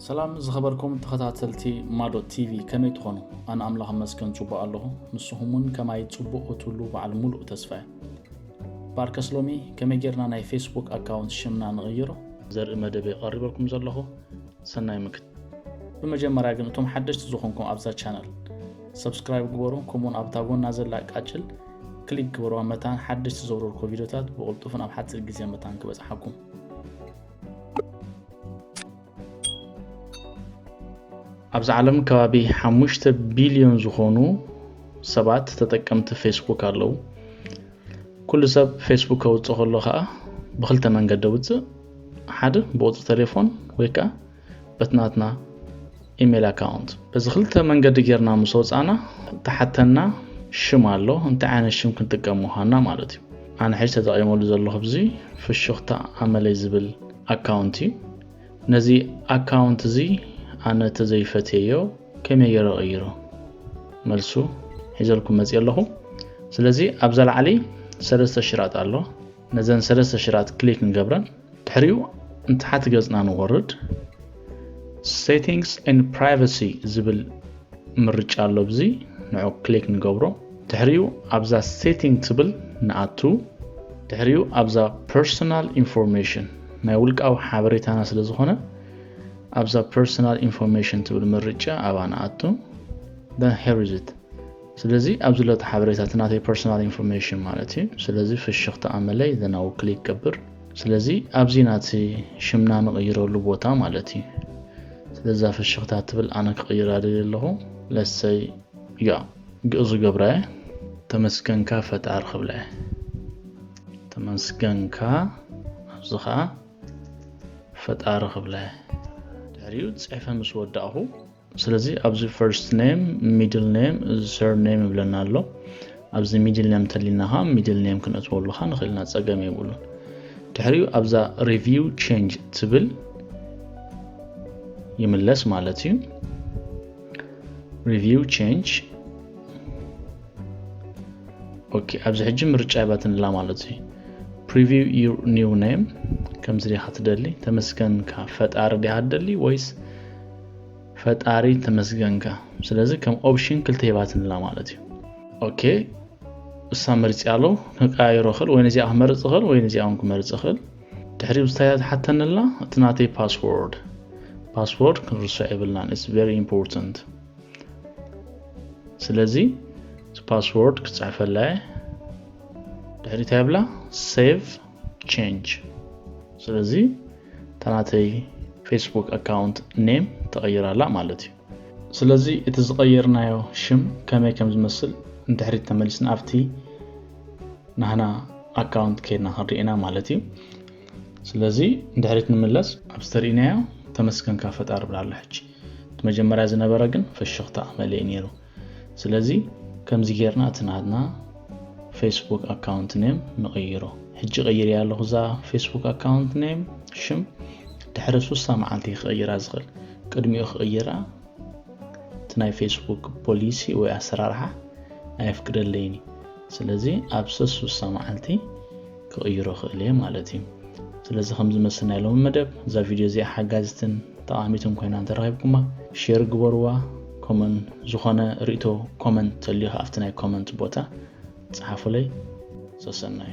ሰላም ዝኸበርኩም ተኸታተልቲ ማዶ ቲቪ ከመይ ትኾኑ ኣነ ኣምላኽ መስገን ፅቡቅ ኣለኹ ንስኹም ውን ከማይ ፅቡቅ ክትህሉ በዓል ሙሉእ ተስፋ እየ ባርከስ ሎሚ ከመይ ጌርና ናይ ፌስቡክ ኣካውንት ሽምና ንቕይሮ ዘርኢ መደብ የቐሪበልኩም ዘለኹ ሰናይ ምክት ብመጀመርያ ግን እቶም ሓደሽቲ ዝኾንኩም ኣብዛ ቻነል ሰብስክራይብ ግበሩ ከምኡውን ኣብታ ጎና ዘላ ቃጭል ክሊክ ግበርዋ መታን ሓደሽቲ ዘውረድኮ ቪድዮታት ብቕልጡፍን ኣብ ሓፂር ግዜ መታን ክበፅሓኩም ኣብዚ ዓለም ከባቢ ሓሙሽተ ቢልዮን ዝኾኑ ሰባት ተጠቀምቲ ፌስቡክ ኣለዉ ኩሉ ሰብ ፌስቡክ ከውፅእ ከሎ ከዓ ብክልተ መንገዲ ውፅእ ሓደ ብቁፅሪ ቴሌፎን ወይ ከዓ በትናትና ኢሜል ኣካውንት በዚ ክልተ መንገዲ ጌርና ምስ ወፃእና ተሓተና ሽም ኣሎ እንታይ ዓይነት ሽም ክንጥቀም ምዃንና ማለት እዩ ኣነ ሕጂ ተጠቒመሉ ዘለኹ ብዚ ፍሽኽታ ኣመለይ ዝብል ኣካውንት እዩ ነዚ ኣካውንት እዚ ኣነ ተዘይፈትየዮ ከመይ ገይረ ቀይሮ መልሱ ሒዘልኩም መፅ ኣለኹ ስለዚ ኣብዛ ላዕሊ ሰለስተ ሽራጥ ኣሎ ነዘን ሰለስተ ሽራት ክሊክ ንገብረን ድሕሪኡ ንታሕቲ ገጽና ንወርድ ሴቲንግስ ን ፕራይቨሲ ዝብል ምርጫ ኣሎ ብዚ ንዑ ክሊክ ንገብሮ ድሕሪኡ ኣብዛ ሴቲንግ ትብል ንኣቱ ድሕሪኡ ኣብዛ ፐርሶናል ኢንፎርሜሽን ናይ ውልቃዊ ሓበሬታና ስለ ዝኾነ ኣብዛ ፐርሶናል ኢንፎርሜሽን ትብል ምርጫ ኣብኣ ንኣቱ ን ሄሪዝት ስለዚ ኣብዚ ሎ እቲ ሓበሬታ እቲ ናተይ ፐርሰናል ኢንፎርሜሽን ማለት እዩ ስለዚ ፍሽኽታ ኣመለይ ዘን ኣው ክሊክ ገብር ስለዚ ኣብዚ ናቲ ሽምና ንቕይረሉ ቦታ ማለት እዩ ስለዛ ፍሽኽታ ትብል ኣነ ክቕይራ ደልየ ኣለኹ ለሰይ ያ ግእዙ ገብራ እየ ተመስገንካ ፈጣሪ ክብላ እየ ተመስገንካ ኣብዚ ከዓ ፈጣሪ ክብላ እየ ድሕሪኡ ፅሕፈ ምስ ወዳእኹ ስለዚ ኣብዚ ፈርስት ኔም ሚድል ኔም ሰር ኔም ይብለና ኣሎ ኣብዚ ሚድል ኔም ተሊና ኸ ሚድል ኔም ክንእትወሉ ኸ ንኽእልና ፀገም የብሉን ድሕሪኡ ኣብዛ ሪቪው ቼንጅ ትብል ይምለስ ማለት እዩ ሪቪው ቼንጅ ኦኬ ኣብዚ ሕጂ ምርጫ ይባትንላ ማለት እዩ ፕሪቪው ዩር ኒው ኔም ከምዚ ዲኻ ትደሊ ተመስገንካ ፈጣሪ ዲኻ ትደሊ ወይስ ፈጣሪ ተመስገንካ ስለዚ ከም ኦፕሽን ክልተ ሂባትንላ ማለት እዩ ኦኬ እሳ መርፂ ኣሎ ክቀያይሮ ክእል ወይ ነዚኣ ክመርፅ ክእል ወይ ነዚኣ እውን ክመርፅ ክእል ድሕሪ ብዝታያ ትሓተንላ እቲ ናተይ ፓስወርድ ፓስወርድ ክንርስዕ የብልናን ኢትስ ቨሪ ኢምፖርታንት ስለዚ እቲ ፓስወርድ ክፅሕፈላ እየ ድሕሪ እንታይ ብላ ሴቭ ቼንጅ ስለዚ ተናተይ ፌስቡክ ኣካውንት ኔም ተቐይር ኣላ ማለት እዩ ስለዚ እቲ ዝቐየርናዮ ሽም ከመይ ከም ዝመስል ንድሕሪት ተመሊስና ኣብቲ ናህና ኣካውንት ከይድና ክንርኢና ማለት እዩ ስለዚ ንድሕሪት ንምለስ ኣብ ዝተርእናዮ ተመስገንካ ፈጣሪ ብላ ኣሎ ሕጂ እቲ መጀመርያ ዝነበረ ግን ፈሽኽታ ኣመለየ ነይሩ ስለዚ ከምዚ ጌርና እቲ ናትና ፌስቡክ ኣካውንት ኔም ንቕይሮ ሕጂ ቀይርያ ኣለኹ እዛ ፌስቡክ ኣካውንት ኔም ሽም ድሕሪ ሱሳ መዓልቲ ክቕይራ ዝኽእል ቅድሚኡ ክቕይራ እቲ ናይ ፌስቡክ ፖሊሲ ወይ ኣሰራርሓ ኣየፍቅደለይን እዩ ስለዚ ኣብ ሰሱሳ መዓልቲ ክቕይሮ ክእል እየ ማለት እዩ ስለዚ ከም ዝመስል ናይ ሎሚ መደብ እዛ ቪድዮ እዚኣ ሓጋዚትን ጠቓሚትን ኮይና እንተረኺብኩማ ሼር ግበርዋ ኮመን ዝኾነ ርእቶ ኮመንት ተልዩ ኣብቲ ናይ ኮመንት ቦታ ፀሓፉለይ ሰሰናዩ